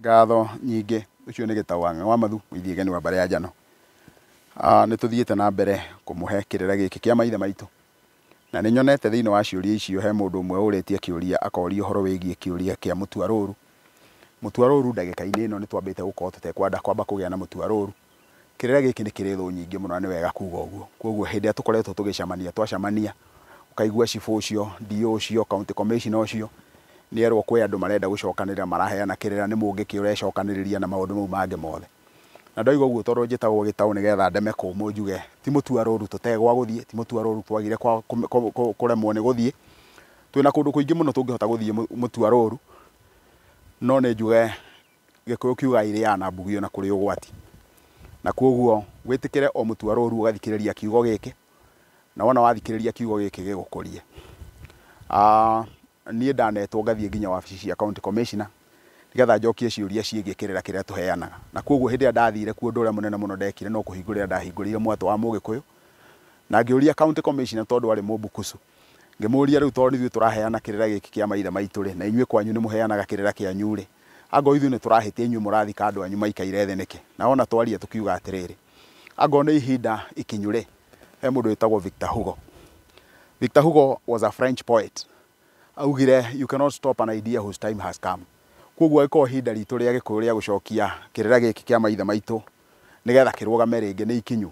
Ngatho nyingĩ, ũcio nĩ Gĩtaũ wa Ng'awamathu, mũithia geni wa Mbare ya Njano. Nĩ tũthiĩte na mbere kũmũhe kĩrĩra gĩkĩ kĩa maithe maitũ, na nĩ nyonete thĩinĩ wa ciũria icio he mũndũ ũmwe ũrĩtie kĩũria akoria ũhoro wĩgiĩ kĩũria kĩa mũtuarũrũ. Mũtuarũrũ ndagĩka-inĩ ĩno nĩ twambĩte gũkorwo tũtekwenda kwamba kũgĩa na mũtuarũrũ, Kĩrĩra gĩkĩ nĩ kĩrĩ thũ nyingĩ mũno na nĩ wega kuga ũguo. Kwoguo hĩndĩ ĩrĩa tũkoretwo tũgĩcemania, twacemania, ũkaigua cibũ ũcio, DO ũcio, county commissioner ũcio, nĩ erwo kwĩ andũ marenda gũcokanĩrĩra maraheana kĩrĩra nĩ mũngĩ kĩ ũrecokanĩrĩria na maũndũ mau mangĩ mothe. Na ndoiga ũguo tondũ njĩtagwo gĩtaũ nĩgetha ndeme kũmũ njuge ti mũtua rũru tũte gwa gũthiĩ, ti mũtua rũru twagire kũremwo nĩ gũthiĩ. Twĩna kũndũ kũingĩ mũno tũngĩhota gũthiĩ mũtua rũru, no nĩ njuge Gĩkũyũ kiugaga irĩaga na mbugio na kũrĩ ũgwati. Na kwoguo wĩtĩkĩre o mũtu arũrũ ũgathikĩrĩria kiugo gĩkĩ, na wona wathikĩrĩria kiugo gĩkĩ gĩgũkũrie. Niĩ ndanetwo ngathiĩ nginya wabici cia county commissioner, nĩgetha njokie ciũria ciĩgiĩ kĩrĩra kĩrĩa tũheanaga. Na kwoguo hĩndĩ ĩrĩa ndathire kuo ũndũ ũrĩa mũnene mũno ndekire no kũhingũrĩra ndahingũrĩire mwatũ wa mũgĩkũyũ, na ngĩũria county commissioner tondũ arĩ mũmbukusu, Ngĩmũũria, Rĩu tondũ nĩithuĩ tũraheana kĩrĩra gĩkĩ kĩa maithe maitũ-rĩ, na inyuĩ kwanyu nĩmũheanaga kĩrĩra kĩanyu-rĩ, angorwo ithuĩ nĩtũrahĩtia inyuĩ mũrathika andũ anyu maikaire thĩ nĩkĩ? Na o na twaria tũkiuga atĩrĩrĩ, Angorwo nĩ ihinda ikinyu-rĩ, he mũndũ wĩtagwo Victor Hugo. Victor Hugo was a French poet. Augire, You cannot stop an idea whose time has come. Kwoguo angĩkorwo ihinda ritũ rĩa Gĩkũyũ rĩa gũcokia kĩrĩra gĩkĩ kĩa maithe maitũ nĩgetha kĩrũgame rĩngĩ nĩ ikinyu,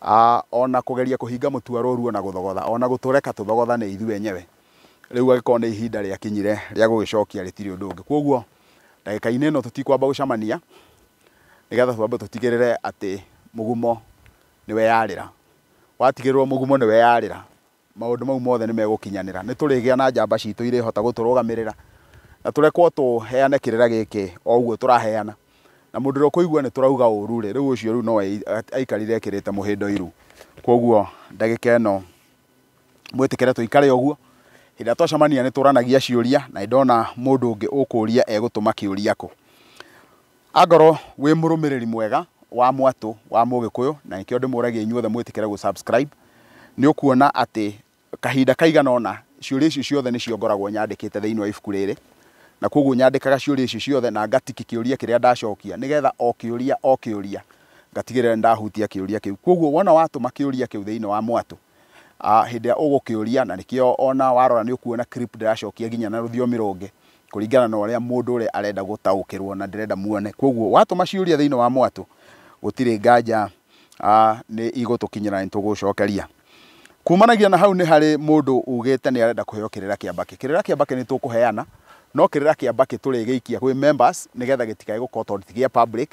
a o na kũgeria kũhinga mũtuaro ũruo na gũthogotha, o na gũtũreka tũthogothane ithuĩ enyewe. Rĩu agĩkorwo nĩ ihinda rĩakinyire rĩa gũgĩcokia rĩtirĩ ũndũ ũngĩ. Kwoguo ndagĩka-inĩ ĩno tũtikwamba gũcamania nĩgetha twambe tũtigĩrĩre atĩ mũgumo nĩweyarĩra. Watigĩrĩrwo mũgumo nĩweyarĩra, maũndũ mau mothe nĩ megũkinyanĩra. Nĩ tũrĩgĩa na njamba citũ irĩhota gũtũrũgamĩrĩra, na tũrekwo tũheane kĩrĩra gĩkĩ o ũguo tũraheana. Na mũndũ ũrĩa ũkũigua nĩ tũrauga ũũru rĩ, rĩu ũcio rĩu no aikarire ekĩrĩte mũhĩndo iru. Kwoguo ndagĩka ĩno mwĩtĩkĩre tũikare ũguo, hĩndĩ ĩrĩa twacemania nĩ tũranagia ciũria, na nĩ ndona mũndũ ũngĩ ũkũũria egũtũma kĩũria kũ. Angorwo wĩ mũrũmĩrĩri mwega wa mwatũ wa Mũgĩkũyũ, na nĩkĩo ndĩmũragia inyuothe mwĩtĩkĩre gũ subscribe, nĩũkuona atĩ kahinda kaigana ũna ciũria icio ciothe nĩcio ngoragwo nyandĩkĩte thĩinĩ wa ibuku rĩrĩ, na kwoguo nyandĩkaga ciũria icio ciothe na nga tick kĩũria kĩrĩa ndacokia, nĩgetha o kĩũria o kĩũria ngatigĩrĩra nĩndahutia kĩũria kĩu. Kwoguo wona watũma kĩũria kĩu thĩinĩ wa mwatũ, ah, hĩndĩ ĩrĩa ũgũkĩũria na nĩkĩo ona warora nĩ ũkuona clip ndĩracokia nginya na rũthiomi rũngĩ kũringana na ũrĩa mũndũ ũrĩa arenda gũtaũkĩrwo na ndĩrenda muone koguo watũma ciũria thĩinĩ wa mwatũ gũtirĩ nganja ah, nĩ igũtũkinyĩra na nĩtũgũcokeria kumanagia na hau nĩ harĩ mũndũ ugĩte nĩ arenda kũheo kĩrĩra kĩa mbakĩ kĩrĩra kĩa mbakĩ nĩ tũkũheana no kĩrĩra kĩa mbakĩ tũrĩgĩikia gwĩ members nĩgetha gĩtikae gũkorwo tondũ ti gĩa public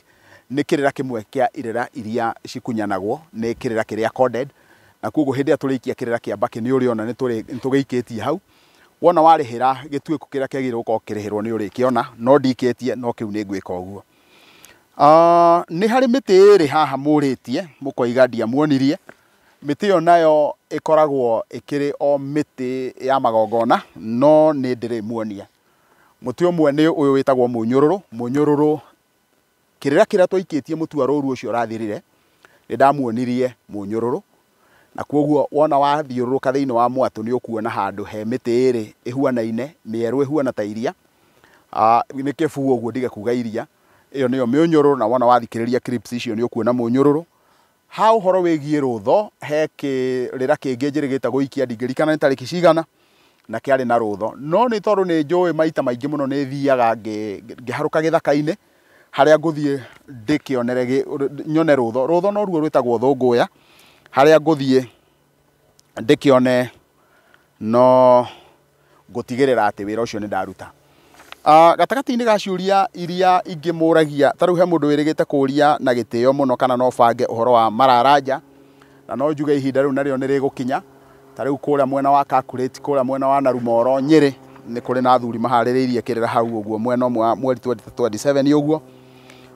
Nĩ kĩrĩra kĩmwe kĩa irĩra iria cikunyanagwo nĩ kĩrĩra kĩrĩa coded, na kwoguo hĩndĩ ĩrĩa tũrĩikia kĩrĩra kĩa mbakĩ nĩ ũrĩona nĩ tũgĩikĩtie hau. Wona warĩhĩra gĩtuĩko kĩrĩa kĩagĩrĩirwo gũkorwo kĩkĩrĩhĩrwo nĩ ũrĩkĩona, no ndikĩtie no kĩu nĩ ngwĩka ũguo. Nĩ harĩ mĩtĩ ĩrĩ haha mũrĩtie mũkoiga ndiamuonirie, mĩtĩ ĩyo nayo ĩkoragwo ĩkĩrĩ o mĩtĩ ya magongona no nĩ ndĩrĩmuonia. Mũtĩ ũmwe nĩ ũyũ wĩtagwo mũnyũrũrũ, mũnyũrũrũ Kĩrĩra kĩrĩa twaikĩtie mũtu wa rũru ũcio ũrathirire, nĩndamuonirie mũnyũrũrũ, na kwoguo wona wathiũrũrũka thĩinĩ wa mwatũ nĩũkuona handũ he mĩtĩ ĩrĩ ĩhuanaine, mĩerũ ĩhuana ta iria, nĩ kĩbuu ũguo ndige kuga iria, ĩyo nĩyo mĩũnyũrũrũ, na wona wathikĩrĩria clips icio nĩũkuona mũnyũrũrũ. Ha ũhoro wĩgiĩ rũũtho, he kĩrĩra kĩngĩ njĩrĩ gĩtagwo Ikia, ndingĩrikana nĩ tarĩki cigana, na kĩarĩ na rũũtho. No nĩ tondũ nĩ njũĩ maita maingĩ mũno nĩ thiaga ngĩharũka gĩthaka-inĩ, harĩa ngũthiĩ ndĩkĩonere, nyone rũũtho. Rũũtho noruo rwĩtagwo thũngũya, harĩa ngũthiĩ ndĩkĩone no ngũtigĩrĩra atĩ wĩra ũcio nĩ ndaruta. Gatagatĩ-inĩ ga ciũria iria ingĩmũragia, ta rĩu he mũndũ wĩrĩgĩte kũria na gĩtĩo mũno kana no bange ũhoro wa mararanja, na no njuge ihinda rĩu narĩo nĩ rĩgũkinya, ta rĩu kũrĩa mwena wa Kakurĩti, kũrĩa mwena wa Narumoro, Nyĩrĩ, nĩ kũrĩ na athuri maharĩrĩirie kĩrĩra hau ũguo mwena ũmwe wa mweri twendi ta twendi cebeni ũguo,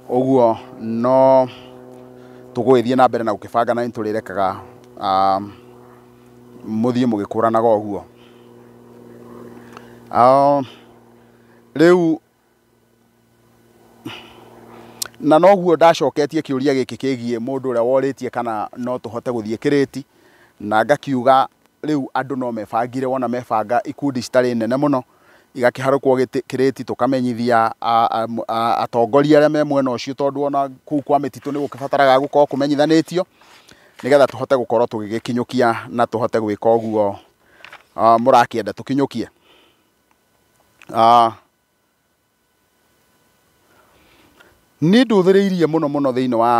ũguo no tũgũgĩthiĩ na mbere na gũkĩbanga na nĩ tũrĩrekaga. mũthiĩ mũgĩkũranaga ũguo. Rĩu na noguo ndacoketie kĩũria gĩkĩ kĩgiĩ mũndũ ũrĩa worĩtie kana no tũhote gũthiĩ kĩrĩti, na ngakiuga rĩu andũ no mebangire wona mebanga ikundi citarĩ nene mũno, igakĩharũkwo kĩrĩti, tũkamenyithia atongoria arĩa me mwena ũcio tondũ ona kũu kwa mĩtitũ nĩ gũkĩbataraga gũkorwo kũmenyithanĩtio, nĩgetha tũhote gũkorwo tũgĩgĩkinyũkia na tũhote gwĩka ũguo mũrakĩenda tũkinyũkie. Niĩ ndũthĩrĩirie mũno mũno thĩiniĩ wa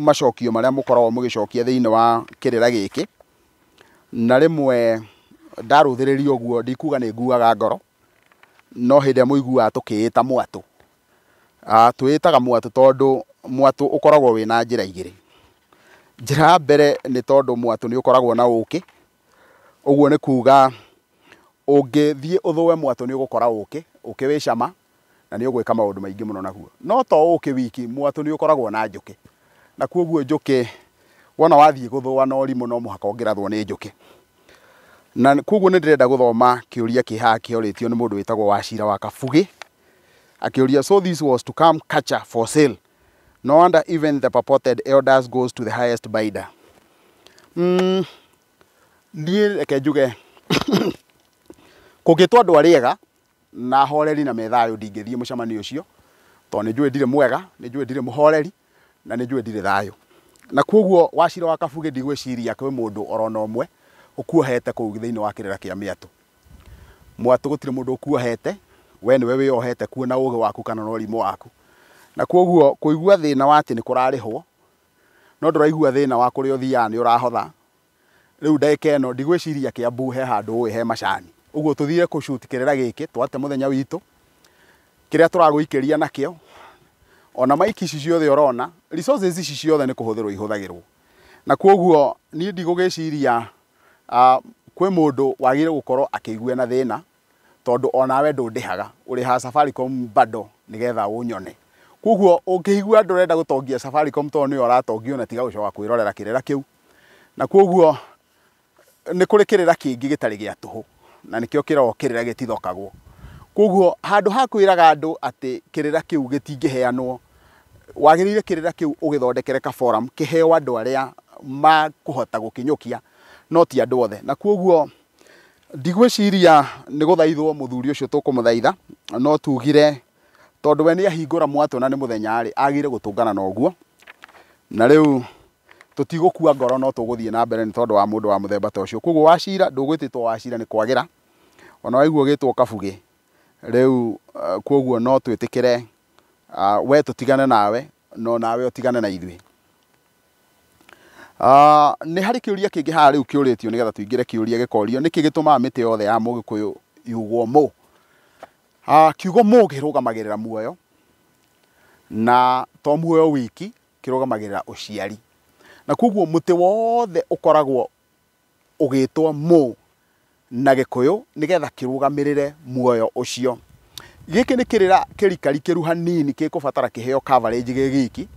macokio marĩa mũkoragwo mũgĩcokia thĩiniĩ wa kĩrĩra gĩkĩ, na rĩmwe ndarũthĩrĩria ũguo ndikuga nĩ nguaga ngoro, no hĩndĩ ĩrĩa mũiguaga tũkĩĩta mwatũ, twĩĩtaga mwatũ tondũ mwatũ ũkoragwo wĩna njĩra igĩrĩ. Njĩra ya mbere nĩ tondũ mwatũ nĩ ũkoragwo na ũkĩ. Ũguo nĩ kuuga ũngĩthiĩ ũthũe mwatũ nĩ ũgũkora ũkĩ, ũkĩ wĩ cama na nĩ ũgwĩka maũndũ maingĩ mũno naguo. No to ũkĩ wiki, mwatũ nĩ ũkoragwo na njũkĩ, na kwoguo njũkĩ wona wathiĩ gũthũa na ũrimũ no mũhaka ũngĩrathwo nĩ njũkĩ. Na kwoguo nĩ ndĩrenda gũthoma kĩũria kĩ haha kĩorĩtio nĩ mũndũ wĩtagwo Wachira wa Kabuge, akĩũria, So this was to come catcher for sale? No wonder even the purported elders goes to the highest bidder. Mm, niĩ reke njuge kũngĩtwo andũ arĩa ega na horeri na methayũ ndingĩthiĩ mũcemanio ũcio tondũ nĩ njũĩ ndirĩ mwega nĩ njũĩ ndirĩ mũhoreri na nĩ njũĩ ndirĩ thayũ na kwoguo wacira wa kabuge ndigwĩciria kwĩ mũndũ orona ũmwe ũkuohete kũu thĩinĩ wa kĩrĩra kĩa mĩatũ Mwatũ gũtirĩ mũndũ ũkuohete, we nĩwe wĩyohete kuo na ũgĩ waku kana na ũrimũ waku. Na kwoguo kũigua thĩna wa atĩ nĩ kũrarĩhwo, no ndũraigua thĩna wa kũrĩa ũthiaga nĩ ũrahotha, rĩu ndagĩka ĩno ndigwĩciria Kĩambu he handũ ũĩ he macani. Ũguo tũthire kũ shoot kĩrĩra gĩkĩ, twate mũthenya witũ, kĩrĩa tũragũikĩria nakĩo, ona mic ici ciothe ũrona, resources ici ciothe nĩ kũhũthĩrwo ihũthagĩrwo. Na kwoguo niĩ ndigũgĩciria Kwĩ mũndũ wagĩrĩirwo gũkorwo akĩigua ena thĩna, tondũ onawe ndũndĩhaga, ũrĩhaga Safaricom bundle nĩgetha ũnyone. Koguo ũngĩigua ndũrenda gũtongia Safaricom tondũ nĩyo ũratongia ona tiga gũcoka kwĩrorera kĩrĩra kĩu. Na koguo nĩ kũrĩ kĩrĩra kĩngĩ gĩtarĩ gĩa tũhũ, na nĩkĩo kĩroo kĩrĩra gĩtithokagwo. Koguo handũ ha kwĩraga andũ atĩ kĩrĩra kĩu gĩtingĩheanwo, Wagĩrĩire kĩrĩra kĩu ũgĩthondekere ka forum kĩheo andũ arĩa makũhota gũkinyũkia no ti andũ othe. Na kwoguo ndigwĩciria nĩ gũthaithwo mũthuri ũcio tũkũmũthaitha, no tugire tondũ we nĩ ahingũra mwatũ na nĩ mũthenya rĩ, agĩrĩire gũtũngana na ũguo. Na rĩu tũtigũkua ngoro no tũgũthiĩ na mbere nĩ tondũ wa mũndũ wa mũthemba ta ũcio. Kwoguo Wachira ndũgwĩtĩtwo Wachira nĩ kwagĩra, ona waigua ũgĩtwo Kabuge, rĩu kwoguo no twĩtĩkĩre ah, we tũtigane nawe no nawe ũtigane na ithuĩ Ah, nĩ harĩ kĩũria kĩngĩ haha rĩu kĩũrĩtio nĩgetha tũingĩre kĩũria gĩkorio nĩkĩ gĩtũmaga mĩtĩ yothe ya mũgĩkũyũ yugwo mũ Ah, kiugo mũ kĩrũgamagĩrĩra muoyo na to muoyo wiki kĩrũgamagĩrĩra ũciari na koguo mũtĩ wothe ũkoragwo ũgĩtwo Mo na Gĩkũyũ nĩ getha kĩrũgamĩrĩre muoyo ũcio. Gĩkĩ nĩ kĩrĩra kĩrikarikĩru hanini gĩkũbatara kĩheo coverage gĩ giki,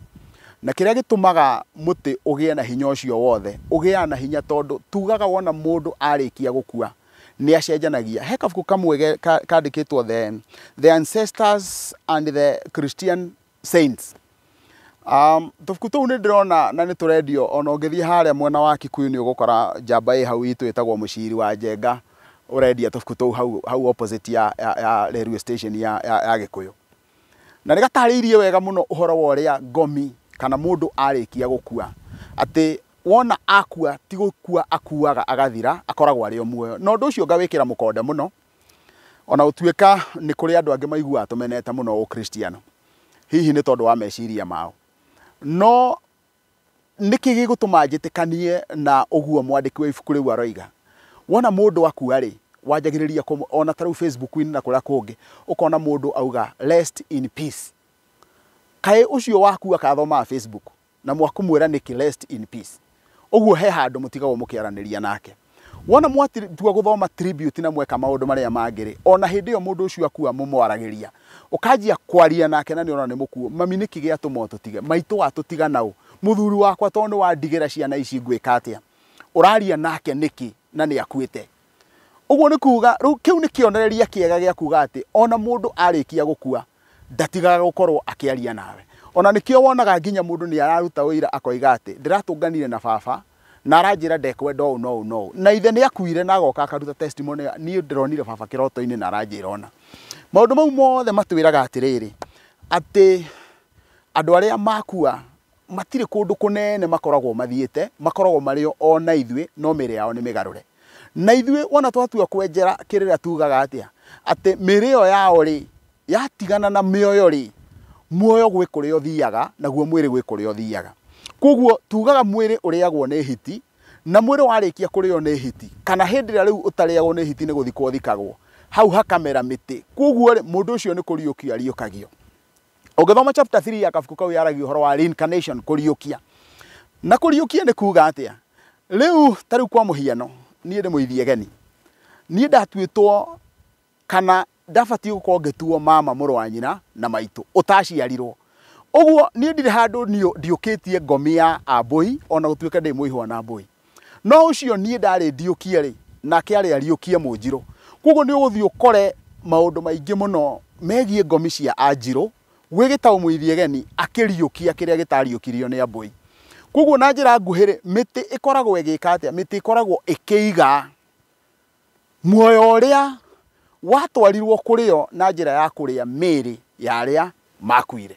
na kĩrĩa gĩtũmaga mũtĩ ũgĩe na hinya ũcio wothe, ũgĩaga na hinya tondũ tugaga wona mũndũ arĩkia gũkua nĩ acenjanagia. He kabuku kamwe kandĩkĩtwo The Ancestors and the Christian Saints. Um, tubuku tuu ni ndirona na ni turendio ona ungithie haria mwena wa Kikuyu ni ugukora njamba i hau itu itagwo muciri wa njenga urendia tubuku tuu hau hau opposite ya ya, ya railway station ya ya, ya Gikuyu na ni gatariirie wega muno uhoro wa uria ngomi kana mundu arikia gukua ati wona akua ti gukua akuaga agathira akoragwo ari o muoyo na undu ucio ngawikira mukonde muno O na gũtuĩka nĩ kũrĩ andũ angĩ maiguaga tũmenete mũno Ũkristiano, hihi nĩ tondũ wa meciria mao, no nĩkĩ gĩgũtũma njĩtĩkanie na ũguo mwandĩki wa ibuku rĩu aroiga? Wona mũndũ akua-rĩ, wanjagĩrĩria kũ, o na ta rĩu Facebook-inĩ na kũrĩa kũngĩ, ũkona mũndũ auga rest in peace. Kaĩ ũcio wakua akathomaga Facebook? na mwakũmwĩra nĩkĩ rest in peace ũguo he handũ mũtigagwo mũkĩaranĩria nake wona mwatua gũthoma tribute na mweka maũndũ marĩa mangĩ rĩ ona hĩndĩ ĩyo mũndũ ũcio akua mũmwaragĩria ũkanjia kwaria nake na nĩ ũrona nĩ mũkuo mami nĩkĩ gĩatũma ũtũtige maitũ watũtiga naũ mũthuri wakwa tondũ nĩwandigĩra ciana ici ngwĩka atĩa ũraria nake nĩkĩ na nĩ akuĩte Ũguo nĩ kuuga, rĩu kĩu nĩ kĩonereria kĩega gĩa kuuga atĩ o na mũndũ arĩkia gũkua, ndatigaga gũkorũo akĩaria nawe. O na nĩkĩo wonaga nginya mũndũ nĩ araruta ũira akoiga atĩ, Ndĩratũnganire na baba, na aranjĩra ndekwenda ũũ na ũũ na ũũ. Na ithe nĩ akuire na agoka akaruta testimony ĩyo, Niĩ ndĩronire baba kĩroto-inĩ na aranjĩra ũna. Maũndũ mau mothe matwĩraga atĩrĩrĩ, atĩ andũ arĩa makua matirĩ kũndũ kũnene makoragwo mathiĩte, makoragwo marĩ o o na ithuĩ, no mĩĩrĩ yao nĩ mĩgarũre. Na ithuĩ wona twatua kwenjera kĩrĩra tugaga atĩa? Atĩ mĩĩrĩ ĩyo yao-rĩ, yatigana na mĩoyo-rĩ, muoyo gwĩ kũrĩa ũthiaga, naguo mwĩrĩ gwĩ kũrĩa ũthiaga. Kwoguo tugaga mwĩrĩ ũrĩagwo nĩ hiti, na mwĩrĩ warĩkia kũrĩo nĩ hiti, kana hĩndĩ ĩrĩa rĩu ũtarĩagwo nĩ hiti nĩ gũthikwo ũthikagwo, hau hakamera mĩtĩ. Kwoguo-rĩ, mũndũ ũcio nĩ kũriũkio ariũkagio. Ũngĩthoma chapter 3 ya kabuku kau yaragia ũhoro wa reincarnation, kũriũkia. Na kũriũkia nĩ kuuga atĩa? Rĩu ta rĩu kwa mũhiano, niĩ ndĩ mũithiegeni. Niĩ ndatuĩtwo kana ndabatiĩ gũkorwo ngĩtuo mama mũrũ wa nyina na maitũ ũtaciarirwo. Ũguo niĩ ndirĩ handũ ndiũkĩtie ngomi ya Ambũi ona gũtuĩka ndĩ mũihwa na Ambũi. No ũcio niĩ ndarĩndiũkia-rĩ, nake arĩ ariũkie Mũnjirũ. Kwoguo nĩ ũgũthiĩ ũkore maũndũ maingĩ mũno megiĩ ngomi cia Anjirũ, gwĩ gĩtaũ Mũithiegeni akĩriũkia kĩrĩa gĩtariũkirio nĩ Ambũi. Kwoguo na njĩra nguhĩ-rĩ, mĩtĩ ĩkoragwo ĩgĩka atĩa? Mĩtĩ ĩkoragwo ĩkĩiga Muoyo ũrĩa watwarirũo kũrĩ o na njĩra ya kũrĩa mĩĩrĩ ya arĩa maakuire.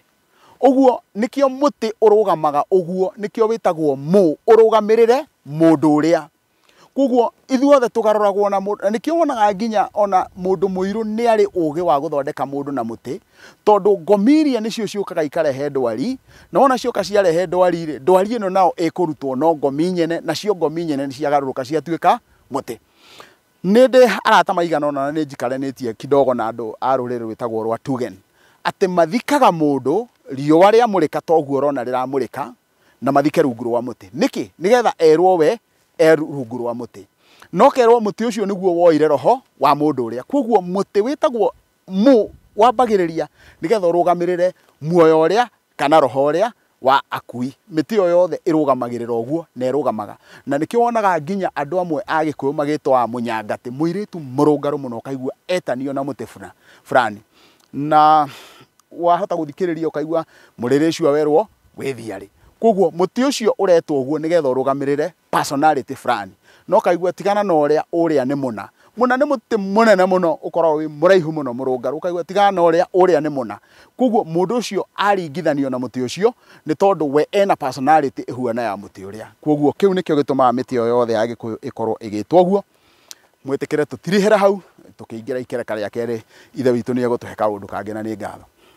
Ũguo nĩkĩo mũtĩ ũrũgamaga ũguo, nĩkĩo wĩtagwo mu, ũrũgamĩrĩre mũndũ ũrĩa. Kwoguo ithuothe tũgarũragwo na mũndũ, na nĩkĩo wonaga nginya o na mũndũ mũirũ nĩ arĩ ũũgĩ wa gũthondeka mũndũ na mũtĩ, tondũ ngomiria nĩcio ciũkaga ikarehe ndwari, na wona cioka ciarehe ndwari-rĩ, ndwari ĩno nayo ĩkũrutwo no ngomi nyene, nacio ngomi nyene nĩ ciagarũrũka ciatuĩka mũtĩ. Nĩ ndĩ arata maigana ũna na nĩ njikaranĩtie kidogo na andũ a rũrĩrĩ rwĩtagwo rwa Tugen, atĩ mathikaga mũndũ riũa rĩamũrĩka ta ũguo ũrona rĩramũrĩka, na mathike rungu rwa mũtĩ. Nĩkĩ? Nĩgetha erwo we e rungu rwa mũtĩ. Na ũkerwo mũtĩ ũcio nĩguo woire roho wa mũndũ ũrĩa. Kwoguo mũtĩ wĩtagwo Mu wambagĩrĩria nĩgetha ũrũgamĩrĩre muoyo ũrĩa kana roho ũrĩa wa akui. Mĩtĩ ĩyo yothe ĩrũgamagĩrĩra ũguo na ĩrũgamaga. Na nĩkĩo wonaga nginya andũ amwe a Gĩkũyũ magĩtwa mũnyangatĩ, mũirĩtu mũrũngarũ mũno ũkaigua etanio na mũtĩ buna fulani. Na wahota gũthikĩrĩria ũkaigua mũrĩrĩ ũcio werwo wĩthiarĩ. Kwoguo mũtĩ ũcio ũretwo ũguo nĩgetha ũrũgamĩrĩre personality fulani no kaigua tigana na ũrĩa ũrĩa nĩ mũna mũna nĩ mũtĩ mũnene mũno ũkoragwo wĩ mũraihu mũno mũrũngarũ kaigua tigana na ũrĩa ũrĩa nĩ mũna koguo mũndũ ũcio aringithanio na mũtĩ ũcio nĩ tondũ we ena personality ĩhuana ya mũtĩ ũrĩa koguo kĩu nĩkĩo gĩtũmaga mĩtĩ o yothe ya gĩkũyũ ĩkorwo ĩgĩtwo ũguo mwĩtĩkĩre tũtirihĩra hau tũkĩingĩra ikereka rĩa kerĩ ithe witũ nĩ egũtũhe kaũndũ kangĩ na nĩ ngatho